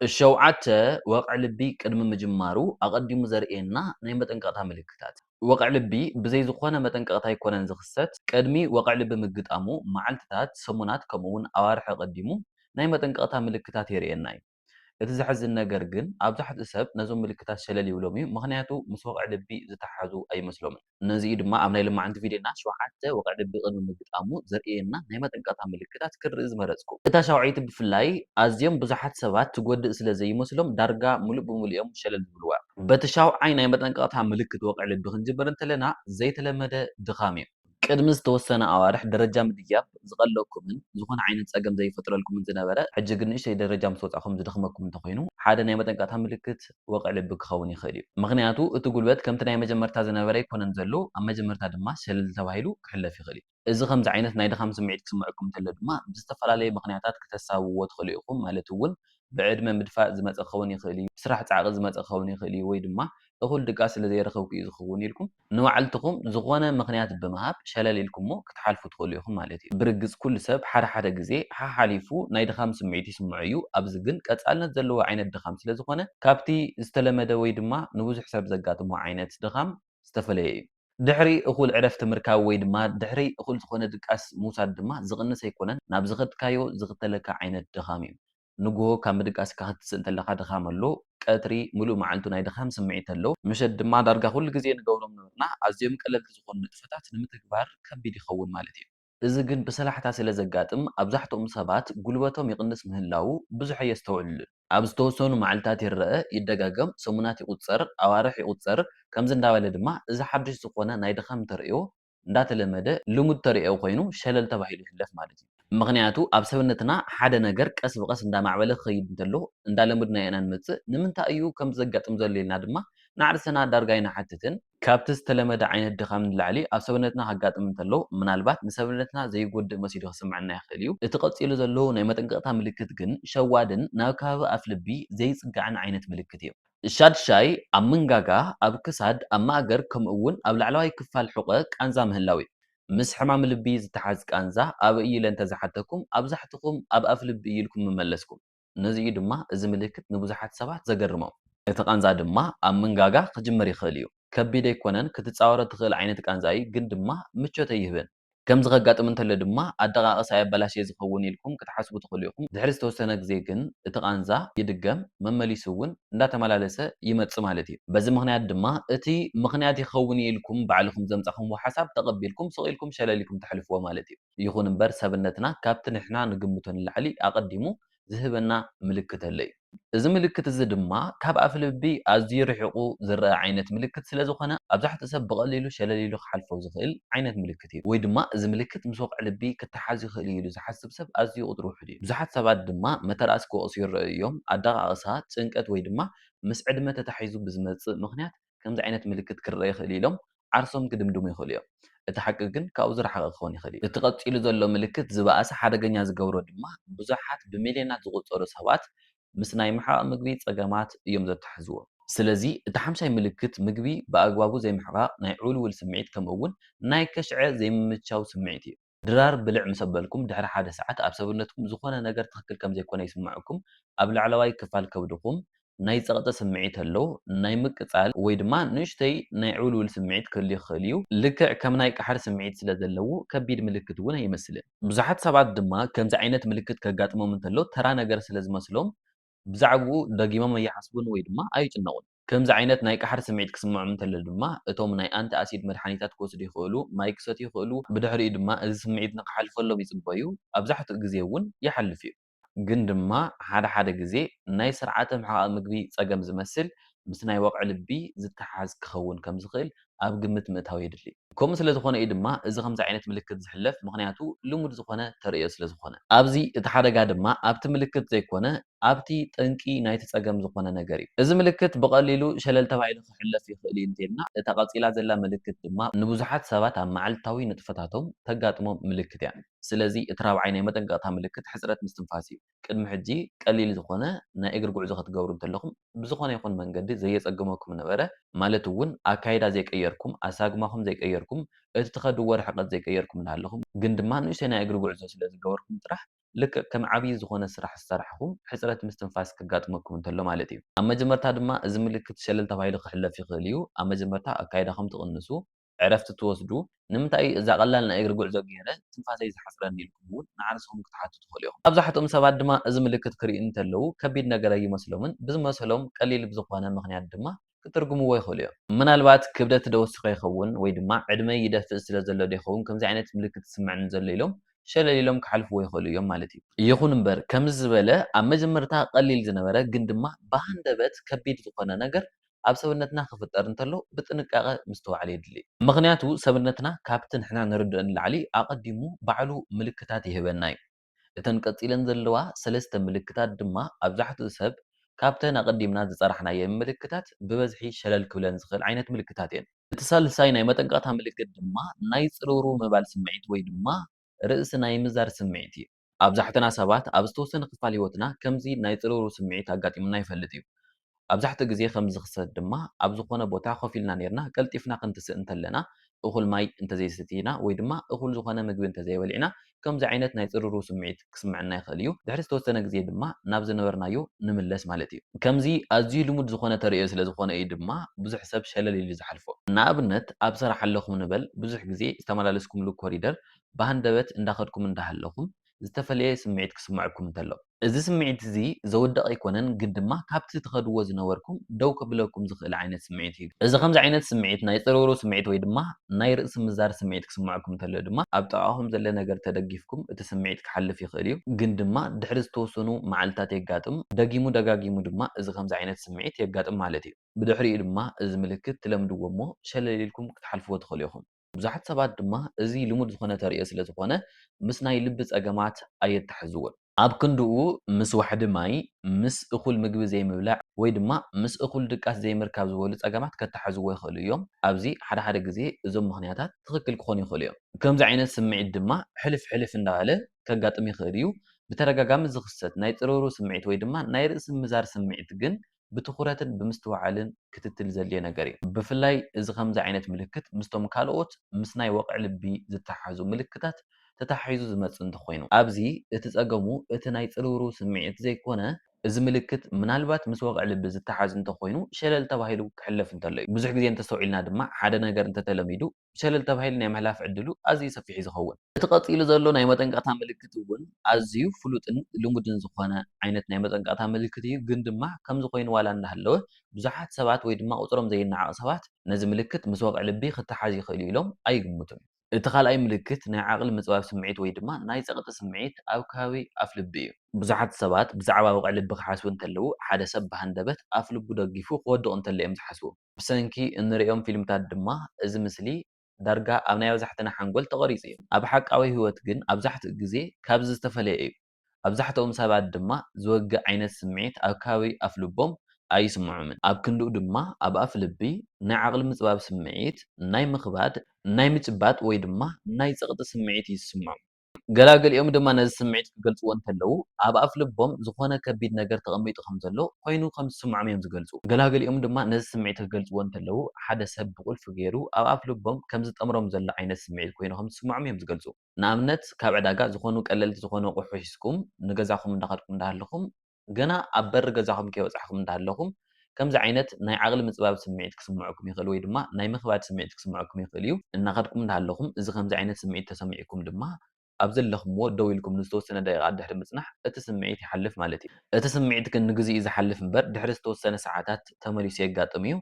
ሸውዓተ፣ ወቕዒ ልቢ ቅድሚ ምጅማሩ ኣቐዲሙ ዘርእየና ናይ መጠንቀቕታ ምልክታት። ወቕዒ ልቢ ብዘይ ዝኾነ መጠንቀቕታ ኣይኮነን ዝኽሰት። ቅድሚ ወቕዒ ልቢ ምግጣሙ መዓልቲታት፣ ሰሙናት ከምኡ'ውን ኣዋርሕ ኣቐዲሙ ናይ መጠንቀቕታ ምልክታት የርእየና እዩ። እቲ ዘሕዝን ነገር ግን ኣብዛሕትኡ ሰብ ነዞም ምልክታት ሸለል ይብሎም'ዩ፣ ምኽንያቱ ምስ ወቕዒ ልቢ ዝተሓሓዙ ኣይመስሎምን። ነዚ'ዩ ድማ ኣብ ናይ ልማዓንቲ ቪድዮና ሸውዓተ ወቕዒ ድቢ ቅድሚ ምግጣሙ ዘርእየና ናይ መጠንቀቕታ ምልክታት ክንርኢ ዝመረጽኩ። እታ ሻውዐይቲ ብፍላይ ኣዝዮም ብዙሓት ሰባት ትጎድእ ስለ ዘይመስሎም ዳርጋ ምሉእ ብምሉእ'ዮም ሸለል ዝብልዋ። በቲ ሻውዓይ ናይ መጠንቀቕታ ምልክት ወቕዒ ልቢ ክንጅምር እንተለና ዘይተለመደ ድኻም'ዩ። ቅድሚ ዝተወሰነ ኣዋርሕ ደረጃ ምድያብ ዝቐለኩምን ዝኾነ ዓይነት ጸገም ዘይፈጥረልኩምን ዝነበረ ሕጂ ግን ንእሽተይ ደረጃ ምስ ወጻእኩም ዝደኽመኩም እንተኾይኑ ሓደ ናይ መጠንቀቕታ ምልክት ወቕዒ ልቢ ክኸውን ይኽእል እዩ። ምኽንያቱ እቲ ጉልበት ከምቲ ናይ መጀመርታ ዝነበረ ኣይኮነን ዘሎ፣ ኣብ መጀመርታ ድማ ሸለል ተባሂሉ ክሕለፍ ይኽእል እዩ። እዚ ከምዚ ዓይነት ናይ ድኻም ስምዒት ክስምዐኩም እንተሎ ድማ ብዝተፈላለየ ምኽንያታት ክተሳብብዎ ትኽእሉ ኢኹም፣ ማለት እውን ብዕድመ ምድፋእ ዝመፀ ክኸውን ይኽእል እዩ፣ ስራሕ ፃዕቒ ዝመፀ ክኸውን ይኽእል እዩ ወይ ድማ እኹል ድቃስ ስለዘይረኸብኩ እዩ ዝኸውን ኢልኩም ንባዕልትኹም ዝኾነ ምኽንያት ብምሃብ ሸለል ኢልኩሞ ክትሓልፉ ትኽእሉ ኢኹም ማለት እዩ። ብርግጽ ኩሉ ሰብ ሓደ ሓደ ግዜ ሓሓሊፉ ናይ ድኻም ስምዒት ይስምዖ እዩ፣ ኣብዚ ግን ቀጻልነት ዘለዎ ዓይነት ድኻም ስለ ዝኾነ ካብቲ ዝተለመደ ወይ ድማ ንብዙሕ ሰብ ዘጋጥሞ ዓይነት ድኻም ዝተፈለየ እዩ። ድሕሪ እኹል ዕረፍቲ ምርካብ ወይ ድማ ድሕሪ እኹል ዝኾነ ድቃስ ምውሳድ ድማ ዝቕንስ ኣይኮነን፣ ናብ ዝኸድካዮ ዝኽተለካ ዓይነት ድኻም እዩ። ንጉሆ ካብ ምድቃስካ ክትስእ እንተለካ ድኻም ኣሎ፣ ቀትሪ ምሉእ መዓልቱ ናይ ድኻም ስምዒት ኣሎ፣ ምሸት ድማ ዳርጋ ኩሉ ግዜ ንገብሮም ዝነበርና ኣዝዮም ቀለልቲ ዝኾኑ ንጥፈታት ንምትግባር ከቢድ ይኸውን ማለት እዩ። እዚ ግን ብሰላሕታ ስለ ዘጋጥም ኣብዛሕትኦም ሰባት ጉልበቶም ይቕንስ ምህላዉ ብዙሕ ኣየስተውዕልሉን። ኣብ ዝተወሰኑ መዓልታት ይረኣ፣ ይደጋገም፣ ሰሙናት ይቑጸር፣ ኣዋርሕ ይቑጸር፣ ከምዚ እንዳበለ ድማ እዚ ሓድሽ ዝኾነ ናይ ድኻም ተርእዮ እንዳተለመደ ልሙድ ተርእዮ ኮይኑ ሸለል ተባሂሉ ይሕለፍ ማለት እዩ። ምኽንያቱ ኣብ ሰብነትና ሓደ ነገር ቀስ ብቐስ እንዳማዕበለ ክኸይድ እንተሎ እንዳለመድናዮ ኢና ንመጽእ፣ ንምንታይ እዩ ከምዚ ዘጋጥም ዘሎ ኢልና ድማ ንዓርስና ዳርጋ ኣይንሓትትን። ካብቲ ዝተለመደ ዓይነት ድኻም ንላዕሊ ኣብ ሰብነትና ከጋጥም እንተሎ ምናልባት ንሰብነትና ዘይጎድእ መሲሉ ክስምዐና ይኽእል እዩ። እቲ ቀጺሉ ዘሎ ናይ መጠንቀቕታ ምልክት ግን ሸዋድን ናብ ከባቢ ኣፍልቢ ዘይጽጋዕን ዓይነት ምልክት እዩ። ሻድሻይ፣ ኣብ መንጋጋ፣ ኣብ ክሳድ፣ ኣብ ማእገር ከምኡ እውን ኣብ ላዕለዋይ ክፋል ሑቐ ቃንዛ ምህላው እዩ። ምስ ሕማም ልቢ ዝተሓዝ ቃንዛ ኣበይ እዩ ኢለ እንተዝሓተኩም ኣብዛሕትኹም ኣብ ኣፍ ልቢ እዩ ኢልኩም ምመለስኩም። ነዚ እዩ ድማ እዚ ምልክት ንብዙሓት ሰባት ዘገርሞም። እቲ ቃንዛ ድማ ኣብ መንጋጋ ክጅምር ይኽእል እዩ። ከቢድ ኣይኮነን፣ ክትፃወሮ ትኽእል ዓይነት ቃንዛ እዩ ግን ድማ ምቾት ኣይህብን። ከምዚ ከጋጥም እንተሎ ድማ ኣደቓቕሳ የበላሽየ ዝኸውን ኢልኩም ክትሓስቡ ትኽእሉ ኢኹም። ድሕሪ ዝተወሰነ ግዜ ግን እቲ ቃንዛ ይድገም፣ መመሊሱ እውን እንዳተመላለሰ ይመጽእ ማለት እዩ። በዚ ምኽንያት ድማ እቲ ምኽንያት ይኸውን እዩ ኢልኩም ባዕልኹም ዘምጻኹምዎ ሓሳብ ተቐቢልኩም ስቕ ኢልኩም ሸለል ኢልኩም ተሕልፍዎ ማለት እዩ። ይኹን እምበር ሰብነትና ካብቲ ንሕና ንግምቶ ንላዕሊ ኣቐዲሙ ዝህበና ምልክት ኣሎ እዩ። እዚ ምልክት እዚ ድማ ካብ ኣፍልቢ ኣዝዩ ርሒቑ ዝረኣ ዓይነት ምልክት ስለ ዝኾነ ኣብዛሕትኡ ሰብ ብቐሊሉ ሸለል ኢሉ ክሓልፎ ዝኽእል ዓይነት ምልክት እዩ። ወይ ድማ እዚ ምልክት ምስ ወቕዒ ልቢ ክተሓዝ ይኽእል እዩ ኢሉ ዝሓስብ ሰብ ኣዝዩ ቁፅሩ ውሑድ እዩ። ብዙሓት ሰባት ድማ መተርኣስ ክወቕሱ ይረኣዩ እዮም፣ ኣደቓቕሳ፣ ጭንቀት ወይ ድማ ምስ ዕድመ ተታሒዙ ብዝመፅእ ምኽንያት ከምዚ ዓይነት ምልክት ክርኣ ይኽእል'ዩ ኢሎም ዓርሶም ክድምድሙ ይኽእሉ እዮም። እቲ ሓቂ ግን ካብኡ ዝረሓቐ ክኸውን ይኽእል እዩ። እቲ ቀጺሉ ዘሎ ምልክት ዝበኣሰ ሓደገኛ ዝገብሮ ድማ ብዙሓት ብሚልዮናት ዝቑጸሩ ሰባት ምስ ናይ ምሕቓቕ ምግቢ ጸገማት እዮም ዘተሓሕዝዎ። ስለዚ እቲ ሓምሻይ ምልክት ምግቢ ብኣግባቡ ዘይምሕቓቕ ናይ ዕውልውል ስምዒት ከምኡ'ውን ናይ ከሽዐ ዘይምምችቻው ስምዒት እዩ። ድራር ብልዕ ምስ ኣበልኩም ድሕሪ ሓደ ሰዓት ኣብ ሰብነትኩም ዝኾነ ነገር ትኽክል ከም ዘይኮነ ይስመዐኩም ኣብ ላዕለዋይ ክፋል ከብድኹም ናይ ጸቕጢ ስምዒት ኣሎ ናይ ምቅጻል ወይ ድማ ንእሽተይ ናይ ዕውልውል ስምዒት ክህሉ ይኽእል እዩ ልክዕ ከም ናይ ቃሕር ስምዒት ስለ ዘለዎ ከቢድ ምልክት እውን ኣይመስልን። ብዙሓት ሰባት ድማ ከምዚ ዓይነት ምልክት ከጋጥሞም እንተሎ ተራ ነገር ስለ ዝመስሎም ብዛዕብኡ ደጊሞም ኣይሓስቡን ወይ ድማ ኣይጭነቑን። ከምዚ ዓይነት ናይ ቃሕሪ ስምዒት ክስምዖም እንተሎ ድማ እቶም ናይ ኣንቲ ኣሲድ መድሓኒታት ክወስዱ ይኽእሉ፣ ማይ ክሰትዩ ይኽእሉ፣ ብድሕሪኡ ድማ እዚ ስምዒት ንክሓልፈሎም ይጽበዩ፣ ኣብዛሕትኡ ግዜ እውን ይሓልፍ እዩ። ግን ድማ ሓደ ሓደ ግዜ ናይ ስርዓተ ምሕቓቕ ምግቢ ጸገም ዝመስል ምስ ናይ ወቕዒ ልቢ ዝተሓሓዝ ክኸውን ከም ዝኽእል ኣብ ግምት ምእታው የድሊ። ከምኡ ስለ ዝኾነ እዩ ድማ እዚ ከምዚ ዓይነት ምልክት ዝሕለፍ፣ ምኽንያቱ ልሙድ ዝኾነ ተርእዮ ስለ ዝኾነ። ኣብዚ እቲ ሓደጋ ድማ ኣብቲ ምልክት ዘይኮነ ኣብቲ ጠንቂ ናይቲ ጸገም ዝኾነ ነገር እዩ። እዚ ምልክት ብቐሊሉ ሸለል ተባሂሉ ክሕለፍ ይኽእል እዩ እንተይልና፣ እታ ቀጺላ ዘላ ምልክት ድማ ንብዙሓት ሰባት ኣብ መዓልታዊ ንጥፈታቶም ተጋጥሞም ምልክት እያ። ስለዚ እቲ ራብዓይ ናይ መጠንቀቕታ ምልክት ሕጽረት ምስትንፋስ እዩ። ቅድሚ ሕጂ ቀሊል ዝኾነ ናይ እግሪ ጉዕዞ ክትገብሩ እንተለኹም ብዝኾነ ይኹን መንገዲ ዘየጸግመኩም ነበረ፣ ማለት ውን ኣካይዳ ዘይቀየርኩም፣ ኣሳግማኹም ዘይቀየርኩም፣ እቲ ትኸድዎ ርሕቀት ዘይቀየርኩም እንዳሃለኹም፣ ግን ድማ ንእሽተይ ናይ እግሪ ጉዕዞ ስለ ዝገበርኩም ጥራሕ ልክዕ ከም ዓብይ ዝኾነ ስራሕ ዝሰራሕኹም ሕጽረት ምስትንፋስ ከጋጥመኩም እንተሎ ማለት እዩ። ኣብ መጀመርታ ድማ እዚ ምልክት ሸለል ተባሂሉ ክሕለፍ ይኽእል እዩ፣ ኣብ መጀመርታ ኣካይዳኹም ትቕንሱ፣ ዕረፍቲ ትወስዱ? ንምንታይ እዩ እዛ ቀላል ናይ እግሪ ጉዕዞ ገይረ ትንፋሰይ ዝሓጽረኒ ኢልኩም እውን ንዓርስኹም ክትሓቱ ትኽእሉ ኢኹም። ኣብዛሕትኦም ሰባት ድማ እዚ ምልክት ክርእዩ እንተለዉ ከቢድ ነገር ኣይመስሎምን፣ ብዝመሰሎም ቀሊል ብዝኾነ ምኽንያት ድማ ክትርጉምዎ ይኽእሉ እዮም። ምናልባት ክብደት ዶ ወሲኸ ይኸውን ወይ ድማ ዕድመይ ይደፍእ ስለ ዘሎ ዶ ይኸውን ከምዚ ዓይነት ምልክት ዝስመዐኒ ዘሎ ኢሎም ሸለል ኢሎም ክሓልፍዎ ይኽእሉ እዮም ማለት እዩ። ይኹን እምበር ከምዚ ዝበለ ኣብ መጀመርታ ቀሊል ዝነበረ ግን ድማ ብሃንደበት ከቢድ ዝኾነ ነገር ኣብ ሰብነትና ክፍጠር እንተሎ ብጥንቃቐ ምስትውዓል የድሊ። ምኽንያቱ ሰብነትና ካብቲ ንሕና ንርድኦ ንላዕሊ ኣቐዲሙ ባዕሉ ምልክታት ይህበና እዩ። እተን ቀጺለን ዘለዋ ሰለስተ ምልክታት ድማ ኣብዛሕትኡ ሰብ ካብተን ኣቐዲምና ዝጸራሕናየን ምልክታት ብበዝሒ ሸለል ክብለን ዝኽእል ዓይነት ምልክታት እየን። እቲ ሳልሳይ ናይ መጠንቀቕታ ምልክት ድማ ናይ ጽርውርው ምባል ስምዒት ወይ ድማ ርእሲ ናይ ምዛር ስምዒት እዩ። ኣብዛሕትና ሰባት ኣብ ዝተወሰነ ክፋል ህይወትና ከምዚ ናይ ጽርውርው ስምዒት ኣጋጢሙና ይፈልጥ እዩ። ኣብዛሕትኡ ግዜ ከምዚ ዝኽሰት ድማ ኣብ ዝኾነ ቦታ ኮፍ ኢልና ኔርና ቀልጢፍና ክንትስእ እንተለና፣ እኹል ማይ እንተዘይሰቲና ወይ ድማ እኹል ዝኾነ ምግቢ እንተዘይበሊዕና ከምዚ ዓይነት ናይ ጽርርው ስምዒት ክስምዐና ይኽእል እዩ። ድሕሪ ዝተወሰነ ግዜ ድማ ናብ ዝነበርናዮ ንምለስ ማለት እዩ። ከምዚ ኣዝዩ ልሙድ ዝኾነ ተርእዮ ስለዝኾነ እዩ ድማ ብዙሕ ሰብ ሸለል ኢሉ ዝሓልፎ። ንኣብነት ኣብ ስራሕ ኣለኹም ንበል ብዙሕ ግዜ ዝተመላለስኩምሉ ኮሪደር ብሃንደበት እንዳኸድኩም እንዳሃለኹም ዝተፈለየ ስምዒት ክስመዐኩም እንተሎ። እዚ ስምዒት እዚ ዘውድቕ ኣይኮነን ግን ድማ ካብቲ ትኸድዎ ዝነበርኩም ደው ከብለኩም ዝኽእል ዓይነት ስምዒት እዩ። እዚ ከምዚ ዓይነት ስምዒት ናይ ጽርውርው ስምዒት ወይ ድማ ናይ ርእሲ ምዛር ስምዒት ክስመዐኩም እንተሎ ድማ ኣብ ጥቓኹም ዘለ ነገር ተደጊፍኩም እቲ ስምዒት ክሓልፍ ይኽእል እዩ ግን ድማ ድሕሪ ዝተወሰኑ መዓልታት የጋጥም ደጊሙ ደጋጊሙ ድማ እዚ ከምዚ ዓይነት ስምዒት የጋጥም ማለት እዩ። ብድሕሪኡ ድማ እዚ ምልክት ትለምድዎ እሞ ሸለል ኢልኩም ክትሓልፍዎ ትኽእሉ ኢኹም። ብዙሓት ሰባት ድማ እዚ ልሙድ ዝኾነ ተርእዮ ስለ ዝኾነ ምስ ናይ ልቢ ጸገማት ኣየተሓሕዝዎን። ኣብ ክንድኡ ምስ ዋሕዲ ማይ፣ ምስ እኹል ምግቢ ዘይምብላዕ ወይ ድማ ምስ እኹል ድቃስ ዘይምርካብ ዝበሉ ጸገማት ከተሓሕዝዎ ይኽእሉ እዮም። ኣብዚ ሓደ ሓደ ግዜ እዞም ምኽንያታት ትኽክል ክኾኑ ይኽእሉ እዮም። ከምዚ ዓይነት ስምዒት ድማ ሕልፍ ሕልፍ እንዳበለ ከጋጥም ይኽእል እዩ። ብተደጋጋሚ ዝኽሰት ናይ ጽርውርው ስምዒት ወይ ድማ ናይ ርእሲ ምዛር ስምዒት ግን ብትኹረትን ብምስትውዓልን ክትትል ዘድልዮ ነገር እዩ። ብፍላይ እዚ ከምዚ ዓይነት ምልክት ምስቶም ካልኦት ምስ ናይ ወቕዒ ልቢ ዝተሓሓዙ ምልክታት ተተሓሒዙ ዝመጽእ እንተኾይኑ። ኣብዚ እቲ ጸገሙ እቲ ናይ ጽርውርው ስምዒት ዘይኮነ፣ እዚ ምልክት ምናልባት ምስ ወቕዒ ልቢ ዝተሓሓዝ እንተኾይኑ ሸለል ተባሂሉ ክሕለፍ እንተሎ እዩ። ብዙሕ ግዜ እንተስተውዒልና ድማ ሓደ ነገር እንተተለሚዱ ሸለል ተባሂሉ ናይ ምሕላፍ ዕድሉ ኣዝዩ ሰፊሕ'ዩ ዝኸውን። እቲ ቀጺሉ ዘሎ ናይ መጠንቀቕታ ምልክት እውን ኣዝዩ ፍሉጥን ልሙድን ዝኾነ ዓይነት ናይ መጠንቀቕታ ምልክት እዩ፣ ግን ድማ ከምዚ ኮይኑ ዋላ እንዳሃለወ ብዙሓት ሰባት ወይ ድማ ቁጽሮም ዘይነዓቕ ሰባት ነዚ ምልክት ምስ ወቕዒ ልቢ ክተሓዝ ይኽእል'ዩ ኢሎም ኣይግምቱን። እቲ ካልኣይ ምልክት ናይ ዓቕሊ ምጽባብ ስምዒት ወይ ድማ ናይ ጸቕጢ ስምዒት ኣብ ከባቢ ኣፍ ልቢ እዩ። ብዙሓት ሰባት ብዛዕባ ወቕዒ ልቢ ክሓስቡ እንተለዉ ሓደ ሰብ ብሃንደበት ኣፍ ልቡ ደጊፉ ክወድቕ እንተሎ እዮም ዝሓስቡ። ብሰንኪ እንርእዮም ፊልምታት ድማ እዚ ምስሊ ዳርጋ ኣብ ናይ ኣብዛሕትና ሓንጎል ተቐሪጹ እዩ። ኣብ ሓቃዊ ህይወት ግን ኣብዛሕትኡ ግዜ ካብዚ ዝተፈለየ እዩ። ኣብዛሕትኦም ሰባት ድማ ዝወግእ ዓይነት ስምዒት ኣብ ከባቢ ኣፍልቦም ኣይስምዖምን። ኣብ ክንድኡ ድማ ኣብ ኣፍልቢ ናይ ዓቕሊ ምጽባብ ስምዒት ናይ ምኽባድ፣ ናይ ምጭባጥ ወይ ድማ ናይ ጸቕጢ ስምዒት እዩ ዝስምዖም። ገላግሊኦም ድማ ነዚ ስምዒት ክገልጽዎ እንከለዉ፣ ኣብ ኣፍልቦም ዝዀነ ከቢድ ነገር ተቐሚጡ ከም ዘሎ ዀይኑ ከም ዝስምዖም እዮም ዝገልጹ። ገላግሊኦም ድማ ነዚ ስምዒት ክገልጽዎ እንከለዉ፣ ሓደ ሰብ ብቝልፊ ገይሩ ኣብ ኣፍልቦም ከም ዝጠምሮም ዘሎ ዓይነት ስምዒት ኰይኑ ከም ዝስምዖም እዮም ዝገልጹ። ንኣብነት፣ ካብ ዕዳጋ ዝዀኑ ቀለልቲ ዝዀኑ ኣቝሑ ሒዝኩም ንገዛኹም እንዳኸድኩም እንዳሃለኹም፣ ገና ኣብ በሪ ገዛኹም ከይበጻሕኩም እንዳሃለኹም ከምዚ ዓይነት ናይ ዓቕሊ ምጽባብ ስምዒት ክስምዖኩም ይኽእል ወይ ድማ ናይ ምኽባድ ስምዒት ክስምዖኩም ይኽእል እዩ። እናኸድኩም እንዳሃለኹም እዚ ከምዚ ዓይነት ስምዒት ተሰሚዑኩም ድማ ኣብ ዘለኹምዎ ደው ኢልኩም ንዝተወሰነ ደቂቓት ድሕሪ ምጽናሕ እቲ ስምዒት ይሓልፍ ማለት እዩ። እቲ ስምዒት ግን ንግዚኡ ዝሓልፍ እምበር ድሕሪ ዝተወሰነ ሰዓታት ተመሊሱ የጋጥም እዩ።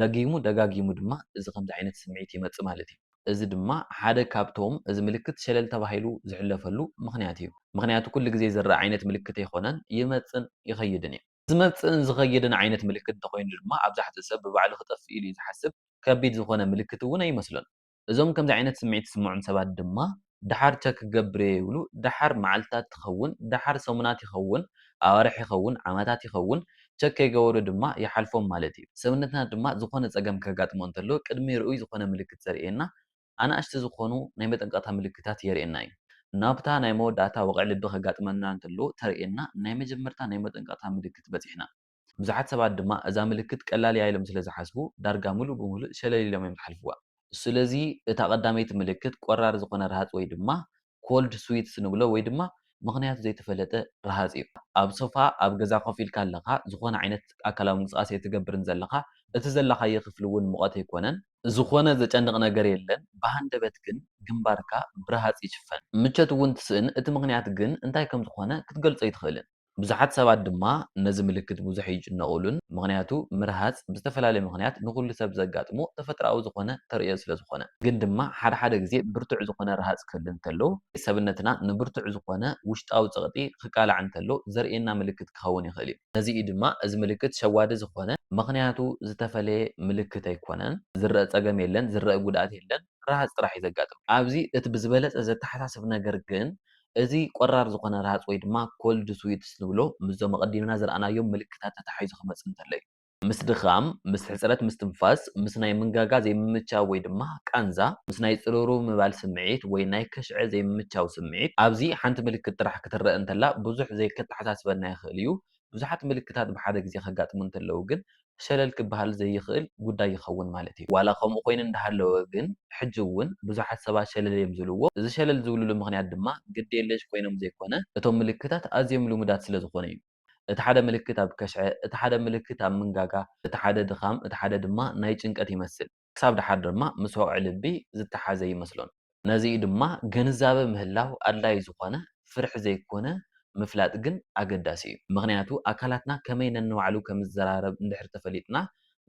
ደጊሙ ደጋጊሙ ድማ እዚ ከምዚ ዓይነት ስምዒት ይመጽእ ማለት እዩ። እዚ ድማ ሓደ ካብቶም እዚ ምልክት ሸለል ተባሂሉ ዝሕለፈሉ ምኽንያት እዩ። ምኽንያቱ ኩሉ ግዜ ዝረኣ ዓይነት ምልክት ኣይኮነን፣ ይመጽእን ይኸይድን እዩ። ዝመጽእን ዝኸይድን ዓይነት ምልክት እንተኾይኑ ድማ ኣብዛሕትኡ ሰብ ብባዕሉ ክጠፍእ ኢሉ እዩ ዝሓስብ፣ ከቢድ ዝኾነ ምልክት እውን ኣይመስሎን። እዞም ከምዚ ዓይነት ስምዒት ዝስምዖም ሰባት ድማ ደሓር ቸክ ክገብር'የ ይብሉ፣ ደሓር መዓልትታት ትኸውን፣ ደሓር ሰሙናት ይኸውን፣ ኣዋርሕ ይኸውን፣ ዓመታት ይኸውን፣ ቸክ ከይገበሩ ድማ ይሓልፎም ማለት'ዩ። ሰብነትና ድማ ዝኾነ ጸገም ከጋጥሞ እንተሎ ቅድሚ ርኡይ ዝኾነ ምልክት ዘርእየና ኣናእሽቲ ዝኾኑ ናይ መጠንቀቕታ ምልክታት የርእየና'ዩ። ናብታ ናይ መወዳእታ ወቕዒ ልቢ ከጋጥመና እንተሎ ተርእየና ናይ መጀመርታ ናይ መጠንቀቕታ ምልክት በጺሕና። ብዙሓት ሰባት ድማ እዛ ምልክት ቀላል እያ ኢሎም ስለ ዝሓስቡ ዳርጋ ምሉእ ብምሉእ ሸለል ኢሎም እዮም ዝሓልፍዋ። ስለዚ እታ ቀዳመይቲ ምልክት ቆራር ዝኾነ ረሃጽ ወይ ድማ ኮልድ ስዊትስ ንብሎ ወይ ድማ ምኽንያቱ ዘይተፈለጠ ረሃጽ እዩ። ኣብ ሶፋ ኣብ ገዛ ኮፍ ኢልካ ኣለኻ፣ ዝኾነ ዓይነት ኣካላዊ ምንቅስቓስ ኣይትገብርን ዘለኻ፣ እቲ ዘለኻዮ ክፍሊ እውን ሙቐት ኣይኮነን። ዝኾነ ዘጨንቕ ነገር የለን፣ ብሃንደበት ግን ግንባርካ ብረሃጽ ይሽፈን። ምቾት እውን ትስእን፣ እቲ ምኽንያት ግን እንታይ ከም ዝኾነ ክትገልጾ ኣይትኽእልን። ብዙሓት ሰባት ድማ ነዚ ምልክት ብዙሕ ኣይጭነቑሉን፣ ምኽንያቱ ምርሃጽ ብዝተፈላለየ ምኽንያት ንኹሉ ሰብ ዘጋጥሞ ተፈጥሮኣዊ ዝኾነ ተርእዮ ስለ ዝኾነ። ግን ድማ ሓደ ሓደ ግዜ ብርቱዕ ዝኾነ ርሃጽ ክህሉ እንተሎ፣ ሰብነትና ንብርቱዕ ዝኾነ ውሽጣዊ ጸቕጢ ክቃላዕ እንተሎ ዘርእየና ምልክት ክኸውን ይኽእል እዩ። ነዚ እዩ ድማ እዚ ምልክት ሸዋዲ ዝኾነ። ምኽንያቱ ዝተፈለየ ምልክት ኣይኮነን፣ ዝረኣ ጸገም የለን፣ ዝረኣ ጉድኣት የለን፣ ርሃጽ ጥራሕ እዩ ዘጋጥም። ኣብዚ እቲ ብዝበለጸ ዘተሓሳስብ ነገር ግን እዚ ቆራር ዝኾነ ረሃጽ ወይ ድማ ኮልድ ስዊትስ ንብሎ ምስዞም ኣቐዲምና ዝረኣናዮም ምልክታት ተታሒዙ ክመጽእ እንተሎ እዩ። ምስ ድኻም፣ ምስ ሕጽረት ምስትንፋስ፣ ምስ ናይ ምንጋጋ ዘይምምቻው ወይ ድማ ቃንዛ፣ ምስ ናይ ጽርውርው ምባል ስምዒት ወይ ናይ ከሽዐ ዘይምምቻው ስምዒት፣ ኣብዚ ሓንቲ ምልክት ጥራሕ ክትረኣ እንተላ ብዙሕ ዘይከተሓሳስበና ይኽእል እዩ፣ ብዙሓት ምልክታት ብሓደ ግዜ ከጋጥሙ እንተለዉ ግን ሸለል ክበሃል ዘይኽእል ጉዳይ ይኸውን ማለት እዩ። ዋላ ከምኡ ኮይኑ እንዳሃለወ ግን ሕጂ እውን ብዙሓት ሰባት ሸለል እዮም ዝብልዎ። እዚ ሸለል ዝብልሉ ምኽንያት ድማ ግድየለሽ ኮይኖም ዘይኮነ እቶም ምልክታት ኣዝዮም ልሙዳት ስለ ዝኾኑ እዩ። እቲ ሓደ ምልክት ኣብ ከሽዐ፣ እቲ ሓደ ምልክት ኣብ ምንጋጋ፣ እቲ ሓደ ድኻም፣ እቲ ሓደ ድማ ናይ ጭንቀት ይመስል። ክሳብ ደሓር ድማ ምስ ወቕዒ ልቢ ዝተሓሓዘ ይመስሎን። ነዚ'ዩ ድማ ግንዛበ ምህላው ኣድላዪ ዝኾነ፣ ፍርሒ ዘይኮነ ምፍላጥ ግን ኣገዳሲ'ዩ። ምኽንያቱ ኣካላትና ከመይ ነንባዕሉ ከምዝዘራረብ እንድሕር ተፈሊጥና፣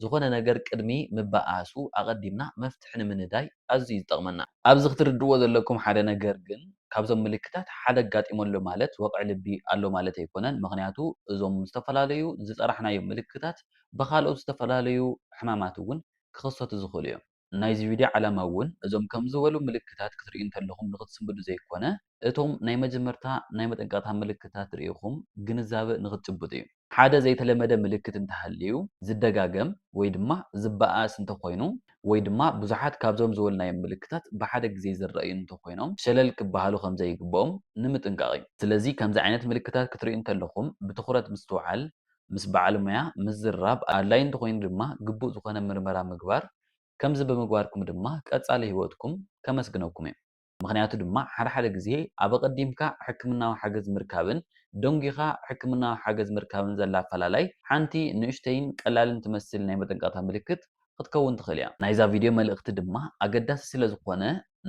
ዝኾነ ነገር ቅድሚ ምብኣሱ ኣቐዲምና መፍትሒ ንምንዳይ ኣዝዩ ዝጠቕመና። ኣብዚ ክትርድእዎ ዘለኩም ሓደ ነገር ግን፣ ካብዞም ምልክታት ሓደ ኣጋጢሙ ኣሎ ማለት ወቕዒ ልቢ ኣሎ ማለት ኣይኮነን። ምኽንያቱ እዞም ዝተፈላለዩ ዝጸራሕናዮም ምልክታት ብኻልኦት ዝተፈላለዩ ሕማማት እውን ክኽሰቱ ዝኽእሉ እዮም። ናይዚ ቪድዮ ዓላማ እውን እዞም ከምዚ ዝበሉ ምልክታት ክትርእዩ እንተለኹም ንኽትስንብዱ ዘይኮነ፣ እቶም ናይ መጀመርታ ናይ መጠንቀቕታ ምልክታት ርኢኹም ግንዛበ ንኽትጭብጡ እዩ። ሓደ ዘይተለመደ ምልክት እንተሃልዩ፣ ዝደጋገም ወይ ድማ ዝበኣስ እንተኾይኑ፣ ወይ ድማ ብዙሓት ካብዞም ዝበልናዮም ምልክታት ብሓደ ግዜ ዝረኣዩ እንተኾይኖም ሸለል ክበሃሉ ከምዘይግበኦም ንምጥንቃቕ እዩ። ስለዚ ከምዚ ዓይነት ምልክታት ክትርእዩ እንተለኹም ብትኹረት ምስትውዓል፣ ምስ በዓል ሞያ ምዝርራብ ኣድላይ እንተኾይኑ ድማ ግቡእ ዝኾነ ምርመራ ምግባር፣ ከምዚ ብምግባርኩም ድማ ቀጻሊ ህይወትኩም ከመስግነኩም እየ። ምኽንያቱ ድማ ሓደ ሓደ ግዜ ኣብ ኣቐዲምካ ሕክምናዊ ሓገዝ ምርካብን ደንጒኻ ሕክምናዊ ሓገዝ ምርካብን ዘላ ኣፈላላይ ሓንቲ ንእሽተይን ቀላልን ትመስል ናይ መጠንቀቕታ ምልክት ኽትከውን ትኽእል እያ። ናይዛ ቪድዮ መልእኽቲ ድማ ኣገዳሲ ስለ ዝኾነ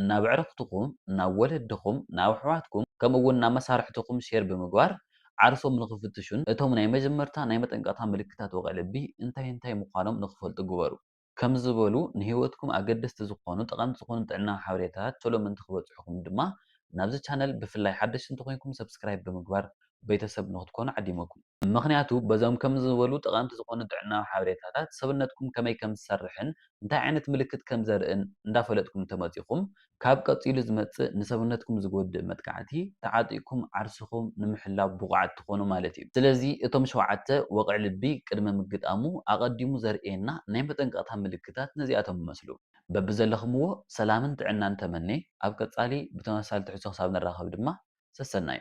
ናብ ኣዕርኽትኹም፣ ናብ ወለድኹም፣ ናብ ኣሕዋትኩም ከምኡ እውን ናብ መሳርሕትኹም ሼር ብምግባር ዓርሶም ንኽፍትሹን እቶም ናይ መጀመርታ ናይ መጠንቀቕታ ምልክታት ወቕዒ ልቢ እንታይ እንታይ ምዃኖም ንኽፈልጡ ግበሩ። ከምዚ ዝበሉ ንህይወትኩም ኣገደስቲ ዝኾኑ ጠቐምቲ ዝኾኑ ጥዕናዊ ሓበሬታታት ቶሎ ምእንቲ ክበጽሑኹም ድማ ናብዚ ቻነል ብፍላይ ሓደሽቲ እንተኾይንኩም ሰብስክራይብ ብምግባር ቤተሰብ ንኽትኮኑ ዓዲመኩም። ምኽንያቱ በዞም ከምዚ ዝበሉ ጠቐምቲ ዝኾኑ ጥዕናዊ ሓበሬታታት ሰብነትኩም ከመይ ከም ዝሰርሕን እንታይ ዓይነት ምልክት ከም ዘርእን እንዳፈለጥኩም እንተመጺኹም ካብ ቀጺሉ ዝመጽእ ንሰብነትኩም ዝጎድእ መጥቃዕቲ ተዓጢቕኩም ዓርስኹም ንምሕላው ብቑዓት ትኾኑ ማለት እዩ። ስለዚ እቶም ሸውዓተ ወቕዒ ልቢ ቅድመ ምግጣሙ ኣቐዲሙ ዘርእየና ናይ መጠንቀቕታ ምልክታት ነዚኣቶም ይመስሉ። በብዘለኽምዎ ሰላምን ጥዕናን ተመኔ ኣብ ቀጻሊ ብተመሳሳሊ ትሕዝቶ ክሳብ ንራኸብ ድማ ሰሰናዩ።